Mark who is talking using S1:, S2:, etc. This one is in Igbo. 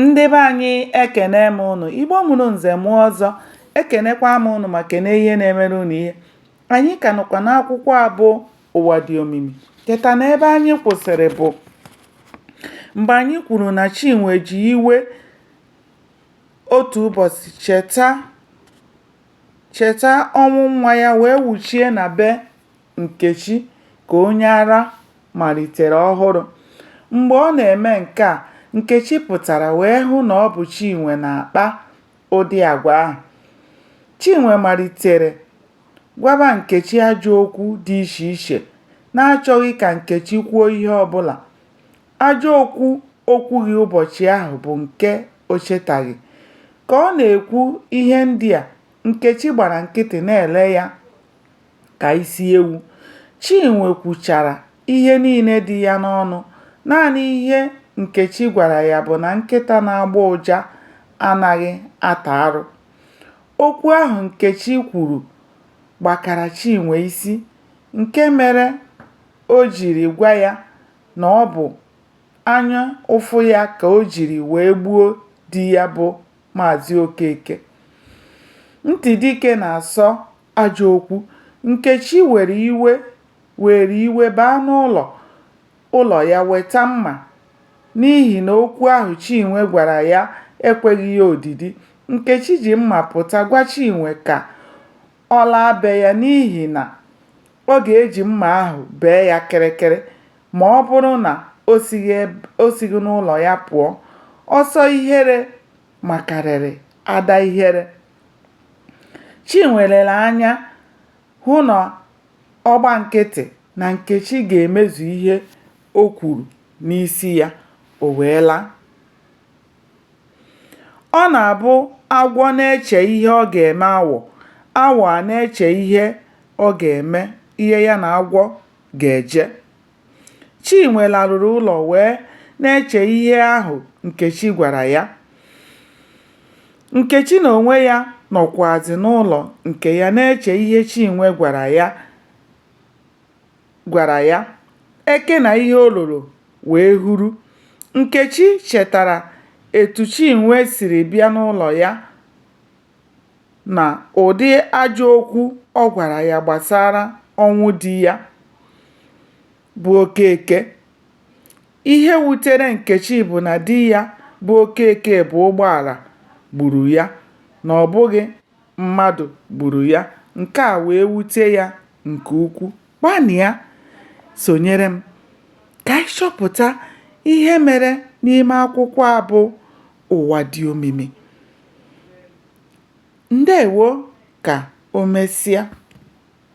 S1: Ndị be anyị ekene m ụnụ, Igbo mụrụ nze mụọ ọzọ, ekenekwa m ụnụ ma kene ihe na-emere ụnụ ihe. Anyị ka nọkwa n'akwụkwọ a bụ Ụwa dị omimi. Cheta na ebe anyị kwụsịrị bụ mgbe anyị kwuru na Chinwe ji iwe otu ụbọchị cheta cheta ọnwụ nwa ya wee wuchie na be Nkechi ka onye ara malitere ọhụrụ. Mgbe ọ na-eme nke a, Nkechi pụtara wee hụ na ọ bụ Chinwe na-akpa ụdị agwa ahụ. Chinwe malitere gwaba Nkechi ajọ okwu dị iche iche na-achọghị ka Nkechi kwuo ihe ọbụla. Ajọ okwu o kwughị ụbọchị ahụ bụ nke o chetaghị. Ka ọ na-ekwu ihe ndị a, Nkechi gbara nkịtị na-ele ya. ka isi ewu. Chinwe kwuchara ihe niile dị ya n'ọnụ, naanị ihe Nkechi gwara ya bụ na nkịta na-agbọ ụja anaghị ata arụ. Okwu ahụ Nkechi kwuru gbakara Chinwe isi nke mere o jiri gwa ya na ọ bụ anya ụfụ ya ka o jiri wee gbuo di ya bụ Maazị Okeke. Ntị dike na-asọ ajọ okwu. Nkechi were iwe were iwe baa n'ụlọ ụlọ ya weta mma n'ihi na okwu ahụ Chinwe gwara ya ekweghị ya odidi. Nkechi ji mma pụta gwa Chinwe ka ọ laa be ya n'ihi na ọ ga-eji mma ahụ bee ya kịrịkịrị ma ọ bụrụ na o sighị n'ụlọ ya pụọ. Ọsọ ihere makarịrị ada ihere. Chinwe lere anya hụ na ọ gba nkịtị na Nkechi ga-emezu ihe o kwuru n'isi ya, o wee laa. Ọ na-abụ agwọ na-eche ihe ọ ga-eme awọ, awọ a na-eche ihe ọ ga-eme, ihe ya na agwọ ga-eje. Chinwe laruru ụlọ wee na-eche ihe ahụ Nkechi gwara ya. Nkechi n'onwe ya nọkwazị n'ụlọ nke ya na-eche ihe Chinwe gwara ya. Eke na ihe o loro wee huru. Nkechi chetara etu Chinwe siri bịa n'ụlọ ya. na ụdị ajọ okwu ọ gwara ya gbasara ọnwụ di ya bụ Okeke. Ihe wutere Nkechi bụ na di ya bụ Okeke bụ ụgbọala gburu ya na ọ bụghị mmadụ gburu ya. Nke a wee wute ya nke ukwu. Gbalịa sonyere m ka anyị chọpụta ihe mere n'ime akwụkwọ a bụ Ụwa Dị Omimi. Ndewo ka omesia.